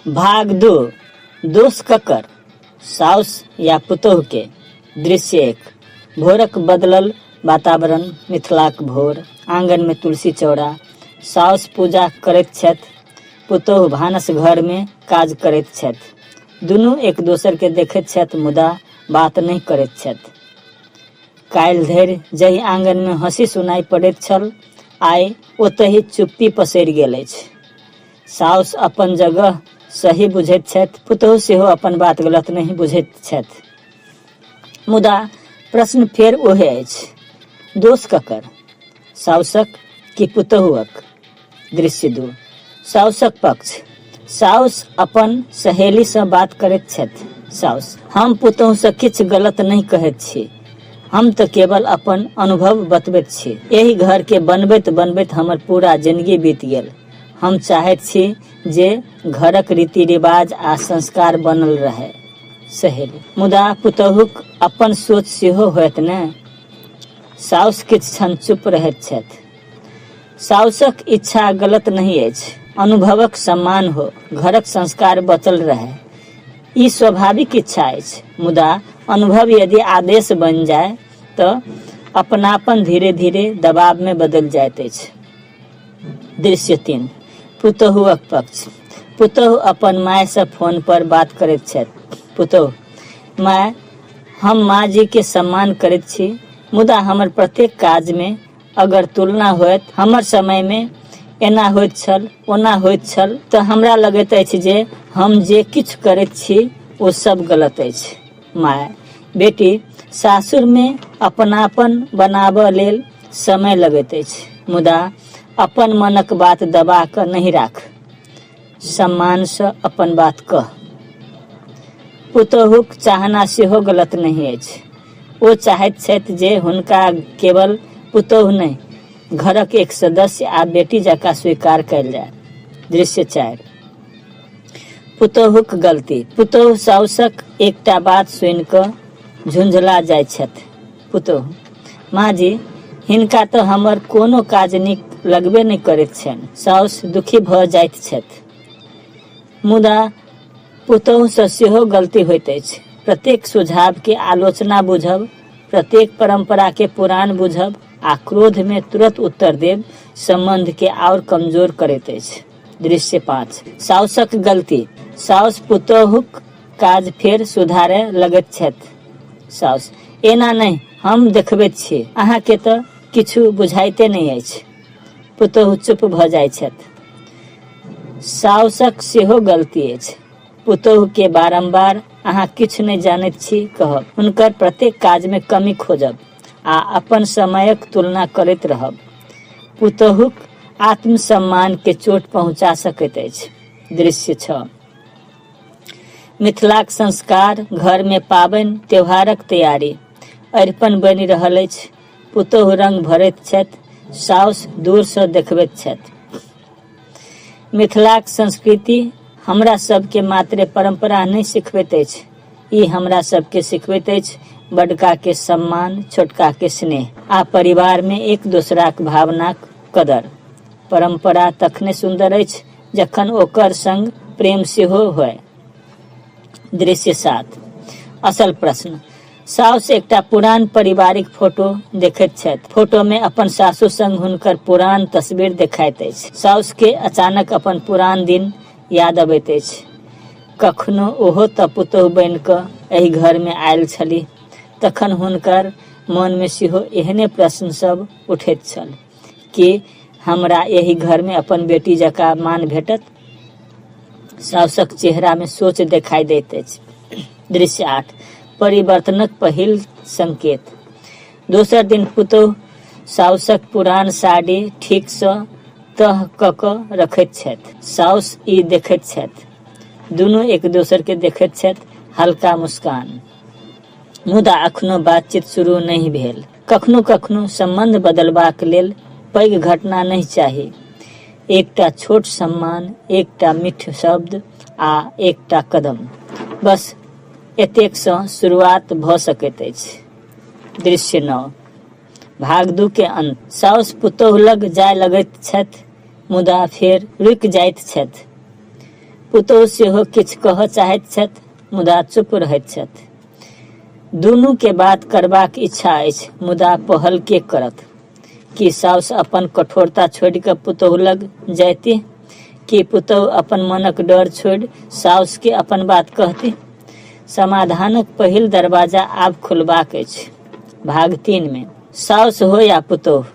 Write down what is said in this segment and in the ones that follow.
भाग दू दोष ककर साउस या पुतोह के दृश्य एक भोरक बदलल वातावरण मिथिलाक भोर आंगन में तुलसी चौड़ा साउस पूजा करैत छथि पुतोह भानस घर में काज करैत छथि दुनू एक दोसर के देखैत छथि मुदा बात नहि करैत छथि काल्हि धरि जाहि आंगनमे हँसी सुनाइ पड़ैत छल आइ ओतहि चुप्पी पसरि गेल अछि साउस अपन जगह सही बुझैत छथि पुतहु सेहो अपन बात गलत नहि बुझैत छथि मुदा प्रश्न फेर ओहे अछि दोष ककर साउसक कि पुतहुअक दृश्य दू साउसक पक्ष साउस अपन सहेलीसँ बात करैत छथि साउस हम पुतहुसँ किछु गलत नहि कहैत छी हम तऽ केवल अपन अनुभव बतबैत छी एहि घरके बनबैत बनबैत हमर पूरा जिंदगी बीत गेल हम चाहैत छी जे घरक रीति रिवाज आ संस्कार बनल रहै सहेली मुदा पुतहुक अपन सोच सेहो होयत ने साउस किछु क्षण चुप रहैत छथि साउसक इच्छा गलत नहि अछि अनुभवक सम्मान हो घरक संस्कार बचल रहए ई स्वाभाविक इच्छा अछि मुदा अनुभव यदि आदेश बनि जाय तऽ अपनापन धीरे धीरे दबाव में बदल जाइत अछि दृश्य तीन पुतहुअक पक्ष पुतहु अपन माय से फोन पर बात करैत छथि पुतहु माय हम माँ जी के सम्मान करैत छी मुदा हमर प्रत्येक काज में अगर तुलना होयत हमर समय में एना होइत छल ओना होइत छल तऽ हमरा लगैत अछि जे हम जे किछु करैत छी ओ सब गलत अछि माय बेटी सासुर में अपनापन बनाबऽ लेल समय लगैत अछि मुदा अपन मनक बात दबा कऽ नहि राख सम्मानसँ अपन बात कह पुतोहुक चाहना सेहो गलत नहि अछि ओ चाहैत छथि जे हुनका केवल पुतोहु नहि घरक एक सदस्य आ बेटी जकाँ स्वीकार कयल जाय दृश्य चारि पुतोहुक गलती पुतोहु साउसक एकटा बात सुनि कऽ झुंझला जाइत छथि पुतोहु, माँ जी, हिनका तँ हमर कोनो काज नीक लगबे नहि करैत छैन। साउस दुखी भऽ जाइत छथि। मुदा पुतोहुसँ सेहो गलती होइत अछि। प्रत्येक सुझावकेँ आलोचना बुझब, प्रत्येक परम्पराकेँ पुरान बुझब आ क्रोधमे तुरत उत्तर देब सम्बन्धकेँ आओर कमजोर करैत अछि। दृश्य पाँच। साउसक गलती। साउस पुतोहुक काज फेर सुधारए लगैत छथि साउस। एना नहि, हम देखबैत छी। अहाँकेँ तँ किछु बुझाइते नहि अछि। पुतोहु चुप भऽ जाइत छथि। साउसक सेहो गलती अछि। पुतोहुकेँ बारम्बार अहाँ किछु नहि जानैत छी कहब, हुनकर प्रत्येक काजमे कमी खोजब आ अपन समयक तुलना करैत रहब पुतोहुक आत्मसम्मानकेँ चोट पहुँचा सकैत अछि। दृश्य छओ। मिथिलाक संस्कार घर मे पाबनि त्योहारक तैयारी। अरिपन बनि रहल अछि। पुतोहु रंग भरैत छथि। साउस दूर सँ देखबैत छथि। मिथिलाक संस्कृति हमरा सभ केँ मात्रे परंपरा नहि सिखबैत अछि। ई हमरा सभ केँ सिखबैत अछि बडका केँ सम्मान, छोटका केँ स्नेह। आ परिवार मे एक दोसराक भावनाक कदर। परंपरा तखने सुन्दर अछि। जखन ओकर संग प्रेम सेहो होय दृश्य सात असल प्रश्न साउस एकटा पुरान पारिवारिक फोटो देखैत छथि फोटो में अपन सासु संग हुनकर पुरान तस्वीर देखाइत अछि साउस के अचानक अपन पुरान दिन याद अबैत अछि कखनो ओहो तऽ पुतोह बनि कऽ एहि घर में आयल छली तखन हुनकर मन में सेहो एहने प्रश्न सब उठैत छल कि हमरा एहि घरमे अपन बेटी जकाँ मान भेटत साउसक चेहरामे सोच देखाइ दैत अछि दृश्य आठ परिवर्तनक पहिल संकेत दोसर दिन पुतोह साउसक पुरान साड़ी ठीकसँ तह कऽ कऽ रखैत छथि साउस ई देखैत छथि दुनू एक दोसरके देखैत छथि हल्का मुस्कान मुदा अखनो बातचीत शुरू नहि भेल कखनो कखनो सम्बन्ध बदलबाक लेल पैघ घटना नहि चाही एकटा छोट सम्मान एकटा मिठ शब्द आ एकटा कदम बस एतेकसँ शुरुआत भऽ सकैत अछि दृश्य नओ भाग दू के अंत साउस पुतोह लग जाय लगैत छथि मुदा फेर रुकि जाइत छथि पुतोह सेहो किछु कहऽ चाहैत छथि मुदा चुप रहैत छथि दुनू के बात करबाक इच्छा अछि मुदा पहल के करत कि साउस अपन कठोरता छोड़ के पुतोह लग जायती कि पुतोह अपन मनक डर छोड़ साउस के अपन बात कहती समाधानक पहिल दरवाजा आब खुलबाक अछि भाग तीन में साउस हो या पुतोह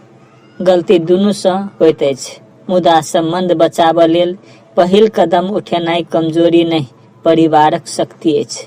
गलती दुनू से होत अछि मुदा संबंध बचाबऽ लेल पहिल कदम उठेनाई कमजोरी नहीं परिवारक शक्ति अछि